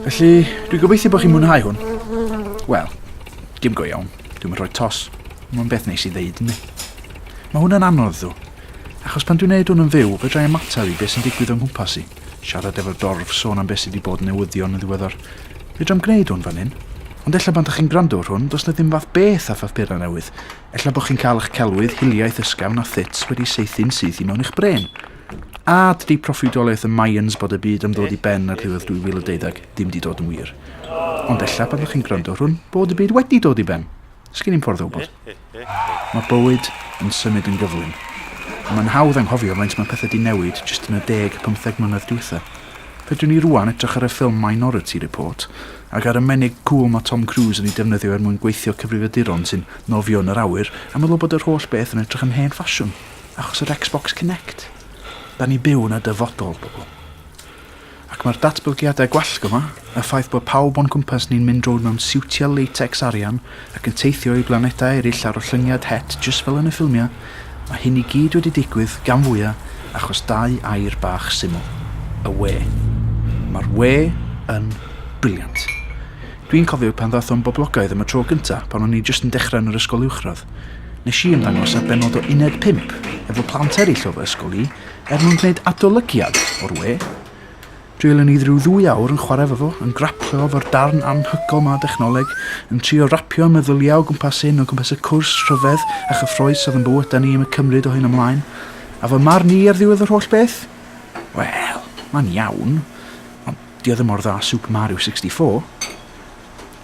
Felly, dwi'n gobeithio bod chi'n mwynhau hwn. Wel, dim go iawn. Dwi'n mynd rhoi tos. Mae'n beth neis i ddeud, ni. Mae hwnna'n anodd, ddw. Achos pan dwi'n neud hwn yn fyw, fe drai ymateb i beth sy'n digwydd o'n nghwmpas i. Siarad efo'r dorf, sôn am beth sydd wedi bod newyddion yn ddiweddar. Fe dra'n gwneud hwn fan hyn. Ond ella pan da chi'n gwrando ar hwn, does na ddim fath beth a phapurau newydd. Ella bod chi'n cael eich celwydd hiliaeth ysgafn a thut wedi saethu'n syth i mewn i'ch brên. A ydy proffwydoliaeth y Mayans bod y byd am ddod i ben ar ddiwedd 2012 ddim wedi dod yn wir? Ond ella pan ydych chi'n gwrando rhwn bod y byd wedi dod i ben. Sgen i'm ffordd o wybod. Mae bywyd yn symud yn gyflym. A mae'n hawdd anghofio faint mae pethau di newid jyst yn y deg, pymtheg mlynedd diwetha. Fedrwn ni rwan edrych ar y ffilm Minority Report Ac ar y menig cŵl mae Tom Cruise yn ei defnyddio er mwyn gweithio cyfrifiaduron sy'n nofio yn yr awyr a meddwl bod yr holl beth yn edrych yn hen ffasiwn achos yr Xbox Kinect. Da ni byw yn y dyfodol, bobl. Ac mae'r datblygiadau gwallgo 'ma, y ffaith bod pawb o'n cwmpas ni'n mynd rownd mewn siwtiau latex arian ac yn teithio i blanedau eraill ar ollyniad het jyst fel yn y ffilmiau, mae hyn i gyd wedi digwydd gan fwya achos dau air bach syml, y we. Mae'r we yn brilliant. Dwi'n cofio pan ddath o'n boblogaidd am y tro gynta pan o'n i jyst yn dechrau yn yr ysgol uwchradd. Nes i ymddangos ar bennod o Uned 5 efo plant eraill o fy ysgol i er mwyn gwneud adolygiad o'r we. Dwelwn ni ryw ddwy awr yn chwarae efo fo, yn graplio efo'r darn anhygoel 'ma o dechnoleg, yn trio rapio meddyliau o gwmpas hyn, o gwmpas y cwrs rhyfedd a chyffrous oedd yn bywydau ni am y cymryd o hyn ymlaen. A fy marn i ar ddiwedd yr holl beth? Wel, mae'n iawn, ond dio ddim mor dda â Super Mario 64.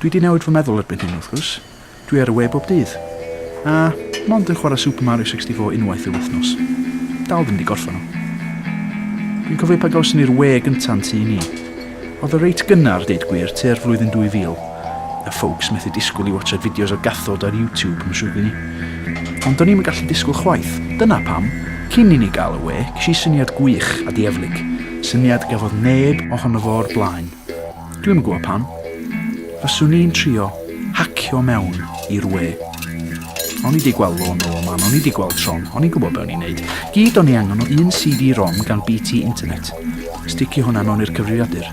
Dwi 'di newid fy meddwl erbyn hyn, wrth gwrs. Dwi ar y we bob dydd. A, mond yn chwarae Super Mario 64 unwaith y wythnos. Dal ddim 'di gorffan o. Dwi'n cofio pan gawson ni'r we gynta'n tŷ ni. Oedd o reit gynnar, deud gwir, tua'r flwyddyn 2000. A folks methu disgwyl i watsiad fideos o gathod ar YouTube, mae'n siŵr gen i. Ond do'n i'm yn gallu disgwyl chwaith. Dyna pam, cyn i ni gael y we, ges i syniad gwych a dieflig. Syniad gafodd neb ohono fo o'r blaen. Dwi'm yn gwybod pam. Fyswn i'n trio hacio mewn i'r we. O'n i 'di gweld Law No Aman, o'n i 'di gweld Tron, o'n i'n gwybod be o'n i'n neud. Gyd o'n i angen o un CD-ROM gan BT Internet. Sticio hwnna mewn i'r cyfrifiadur.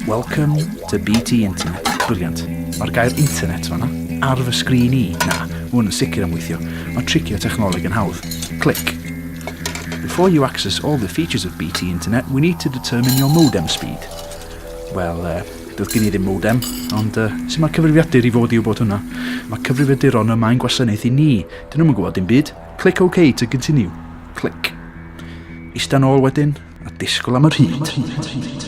Welcome to BT Internet. Brilliant. Mae'r gair internet fanna. Ar fy sgrin i. Na, mae hwn yn sicr am weithio. Mae tricio technoleg yn hawdd. Clic. Before you access all the features of BT Internet, we need to determine your modem speed. Wel, uh, doedd gen i ddim modem, ond uh, sut mae'r cyfrifiadur i fod i wybod hwnna? Mae cyfrifiaduron yma yn gwasanaeth i ni. Dyn nhw'n gwybod dim byd. Click OK to continue. Click. Eistedd ôl wedyn, a disgwyl am yr hyd.